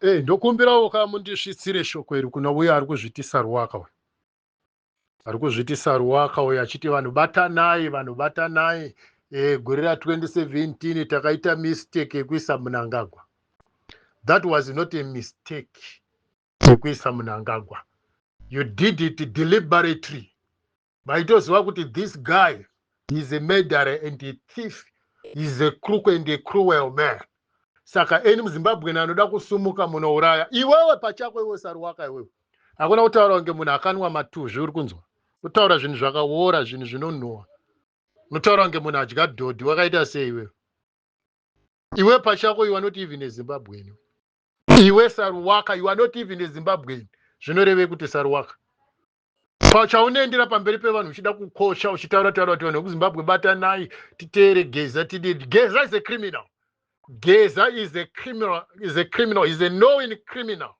Hey, eh, ndokumbirawo ka mundisvitsire shoko iri kuna uye ari kuzvitisa ruwaka uyu ari kuzvitisa ruwaka uyu achiti vanhu batanai vanhu batanai e, gore ra 2017 takaita mistake yekuisa munangagwa that was not a mistake Chekuisa Mnangagwa. You did it deliberately. Vaitoziva kuti this guy is a murderer and a thief. He's a crook and a cruel man. Saka eni muZimbabwe anoda kusumuka munouraya. Iwewe pachako iwe saruwaka iwewe. Hakuna kutaura kunge munhu akanwa matuzvi uri kunzwa. Kutaura zvinhu zvakawora zvinhu zvinonhuwa. Unotaura kunge munhu adya dhodhi wakaita sei iwewe. Iwe pachako you are not even a Zimbabwean. iwe saruwaka you are not even a zimbabwean zvinorevei kuti saruwaka pachaunoendera pamberi pevanhu uchida kukosha uchitaura taura kuti vanhu vekuzimbabwe batanai titeere geza tidii geza is a criminal geza is a criminal is a criminal is a knowing criminal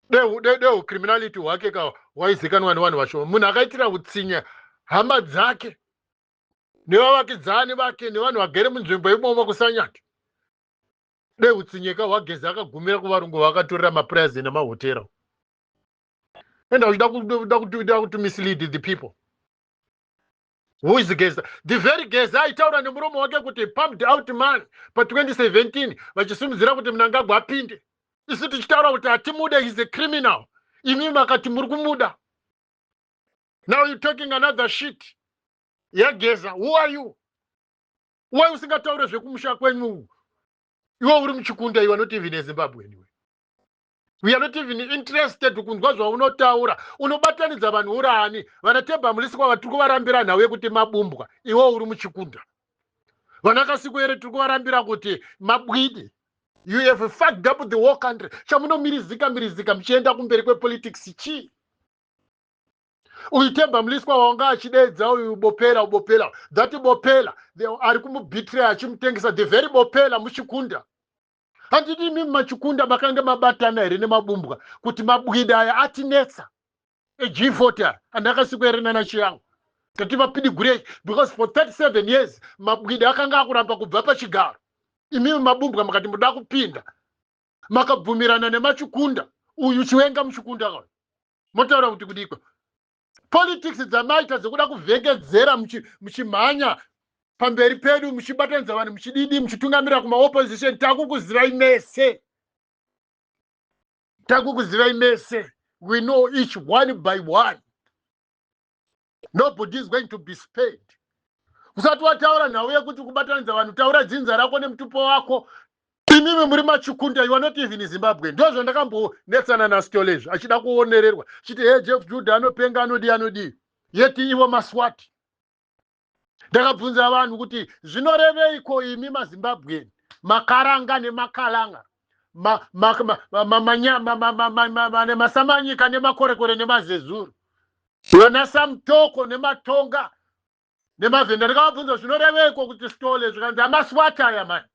deucriminality de, de, de hwake ka waizikanwa nevanhu vashoma munhu akaitira utsinya hama dzake nevavakidzani vake nevanhu vagere munzvimbo imomo kusanyati dai hutsinyeka hwageza akagumira kuvarungu vakatorera maprayers nemahotera and auchida kuti mislead the people who is geza the very geza aitaura nemuromo wake kuti pumped out man pa 2017 vachisimudzira kuti mnangagwa apinde isu tichitaura kuti hatimude is a criminal imi makati muri kumuda now you talking another shit yageza who are you why usingataure zvekumusha kwenyu iwe uri muchikunda you are not even ezimbabwe anyway we are not even interested kunzwa zvaunotaura unobatanidza vanhu uraani vana tebamulisi kwava tiri kuvarambira nhau yekuti mabumbwa iwe uri muchikunda vana kasikuere tiri kuvarambira kuti mabwidi you have fucked up the whole country chamunomirizika mirizika muchienda kumberi kwepolitics chii uyu temba mliswa wanga achideedza uyu bopela ubopela that bopela ari kumubitray achimutengesa the very bopela muchikunda handiti imimi machikunda makange mabatana here nemabumbwa kuti mabwida aya atinetsa ejivoti aya andakasiko here nana chiyangu tati vapidigurei because for 37 years mabwida akanga akuramba kubva pachigaro imimi mabumbwa makati muda kupinda makabvumirana nemachikunda uyu chiwenga muchikunda motaura kuti kudiko politics dzamaita dzekuda kuvhekedzera muchimhanya pamberi pedu muchibatanidza vanhu muchididi muchitungamirira kumaopposition takukuzivai mese takukuzivai mese we know each one by one nobody is going to be spared usati wataura nhau yekuti kubatanidza vanhu taura dzinza rako nemutupo wako imimi muri machikunda you are not even zimbabwe ndo zvandakambonetsana nastol izvi achida kuonererwa chiti he jeff juda anopenga anodii anodii yeti ivo maswati ndakabvunza vanhu kuti zvinoreveiko imi mazimbabweni makaranga nemakalanga masamanyika nemakorekore nemazezuru vana samtoko nematonga nemavhenda ndakavabvunza zvinoreveiko kuti stole zvikanzi amaswati aya mani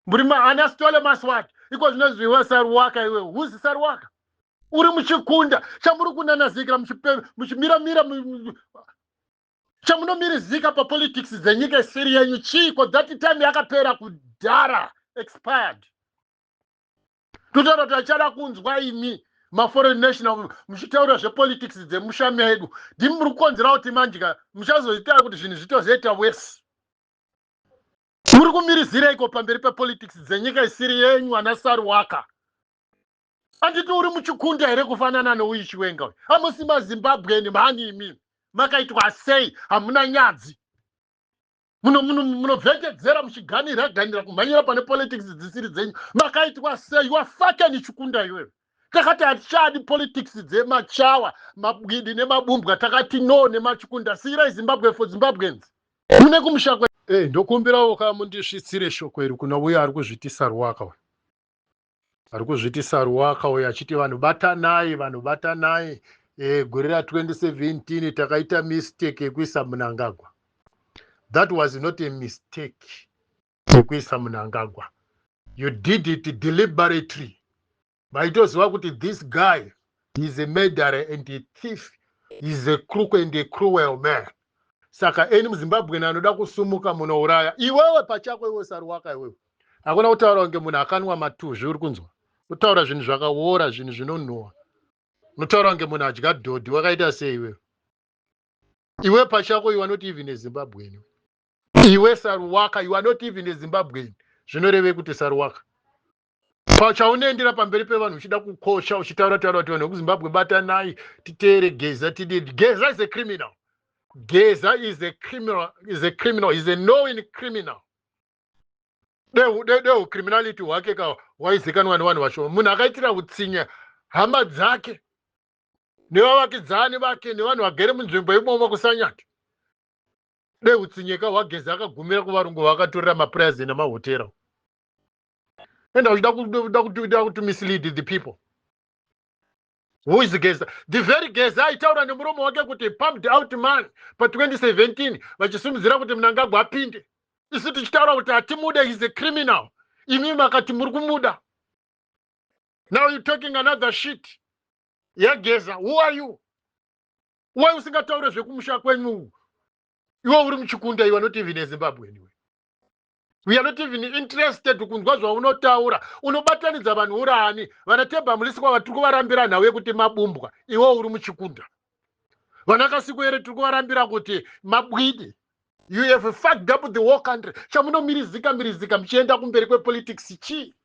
Muri mahani asitole maswat iko zvinozwi iwe saruwaka iwe huzi saruwaka uri muchikunda chamuri kunanazikira muchimira mira chamunomirizika papolitics dzenyika isiri yenyu chiiko that time yakapera kudhara expired totaura kuti achada kunzwa imi maforeign national muchitaura zvepolitics dzemusha medu ndimi muri kukonzera kuti manjika muchazoita kuti zvinhu zvitozoita wese Muri kumirizireiko pamberi pepolitics dzenyika isiri yenyu ana Saruwaka? Anditi uri muchikunda here kufanana nouyu Chiwenga uyu? Hamusi maZimbabwean mhani imi. Makaitwa sei? Hamuna nyadzi. Munobvekedzera muno, muno muchiganira ganira kumhanyira pane politics dzisiri dzenyu. Makaitwa sei? You are fucking Chikunda iwewe. Takati hatichadi politics dzemachawa, mabwidi nemabumbwa takati no nemachikunda. Siirai Zimbabwe for Zimbabweans. Kune kumusha kwe eh ndokumbirawo ka mundisvitsire shoko iri kuna uya ari kuzvitisa ruwaka uyu. Ari kuzvitisa ruwaka uyu achiti vanhu batanai vanhu batanai eh gore ra 2017 takaita mistake yekuisa munangagwa. That was not a mistake yekuisa munangagwa. You did it deliberately. vaitoziva kuti this guy is a murderer and a thief is a crook and a cruel man saka eni muzimbabweni anoda kusumuka munouraya iwewe pachako iwe saruwaka iwewe hakuna kutaura kunge munhu akanwa matuzvi uri kunzwa kutaura zvinhu zvakaora zvinhu zvinonhuwa unotaura kunge munhu adya dhodhi wakaita sei iwewe iwe pachako iwe anoti even ezimbabweni iwe saruwaka iwe anoti even ezimbabweni zvinorevei kuti saruwaka pachaunoendera pamberi pevanhu uchida kukosha uchitaura taura kuti vanhu vekuzimbabwe batanai titeere geza tidii geza is a criminal geza is a criminal is a criminal is a knowing criminal dehu criminality hwake ka waizikanwa nevanhu vashoma munhu akaitira utsinya hama dzake nevavakidzani vake nevanhu vagere munzvimbo imomo kusanyati dehu tsinyeka hwageza akagumira kuvarungu vakatorera mapurazi nemahotera enda uchida kuda kuti mislead the people who is geza the very geza aitaura nemuromo wake kuti pumped out man pa 2017 vachisimudzira kuti mnangagwa apinde isu tichitaura kuti hatimude is a criminal imi makati muri kumuda now you talking another shit yageza who are you why usingataure zvekumusha kwenyu iwe uri muchikunda iwe not even ezimbabwe anyway we are not even interested kunzwa zvaunotaura unobatanidza vanhu uraani vana tebamulisi kwava tiri kuvarambira nhau yekuti mabumbwa iwo uri muchikunda vana kasiko here tiri kuvarambira kuti mabwidi you have fucked up the war country chamunomirizika mirizika muchienda kumberi kwepolitics chii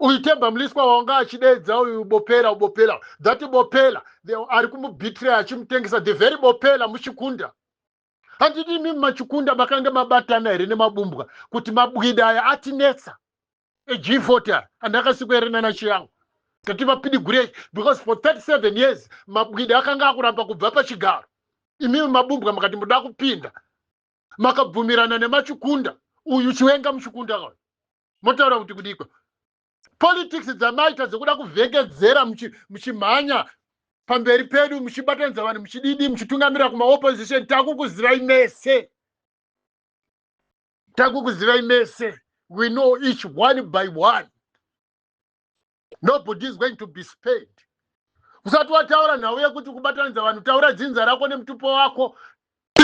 uyu tebamliswa wanga achideedza uyu bopela ubopela that bopela ari kumubitray achimutengesa the very bopela muchikunda handiti imimi machikunda makange mabatana here nemabumbwa kuti mabwida aya atinetsa eg40 aya andakasikwa here nana chiyangu kuti vapidigurei because for 37 years mabwida akanga akuramba kubva pachigaro imimi mabumbwa makati muda kupinda makabvumirana nemachikunda uyu chiwenga muchikunda motaura kuti kudikwa politics dzamaita dzekuda kuvhengedzera muchimhanya pamberi pedu muchibatanidza vanhu muchididi muchitungamirira kumaopposition takukuzivai mese takukuzivai mese we know each one by one nobody is going to be spared usati wataura nhau yekuti kubatanidza vanhu taura dzinza rako nemutupo wako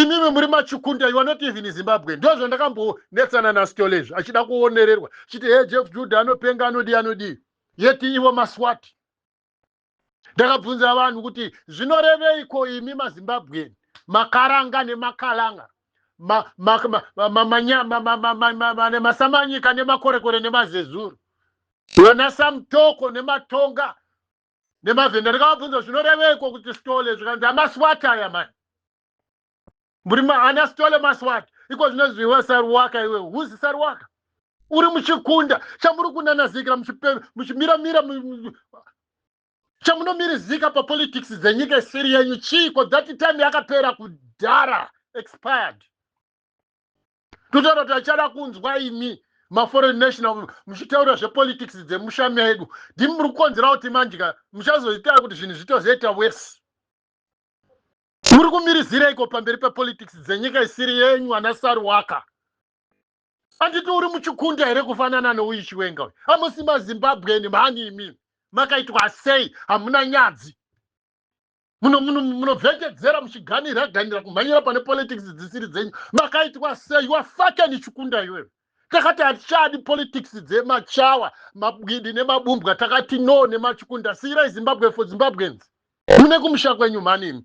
imimi muri machikunda you are not even zimbabwe ndo zvandakambonetsana nastole izvi achida kuonererwa chiti he jeff juda anopenga anodii anodii yeti ivo maswati ndakabvunza vanhu kuti zvinoreveiko imi mazimbabweni makaranga nemakalanga nemasamanyika nemakorekore nemazezuru vana samtoko nematonga nemavhenda ndikavabvunza zvinoreveiko kuti stole zvikanzi amaswat aya mani muri ana stole maswat iko zvinozvi iwe saruwaka iwe huzi saruwaka uri muchikunda chamuri kunanazikira muchimiramira chamunomirizika papolitics dzenyika isiri yenyu chiiko that time yakapera kudhara expired totaura kuti achada kunzwa imi maforeign national muchitaura zvepolitics dzemushami yedu ndimi muri kukonzera kuti manje ka muchazoita kuti zvinhu zvitozoita wese muri kumirizireiko pamberi pepolitics dzenyika isiri yenyu ana saruwaka anditi uri muchikunda here kufanana nouyu chiwenga uyu amusi mazimbabweni mhani imimi makaitwa sei hamuna nyadzi munobvekedzera muchiganira ganira kumhanyira pane politics dzisiri dzenyu makaitwa sei wafakeni chikunda iwewe takati hatichadi politics dzemachawa mabwidi nemabumbwa takati no nemachikunda siirai zimbabwe for zimbabweans mune kumusha kwenyu mhanimi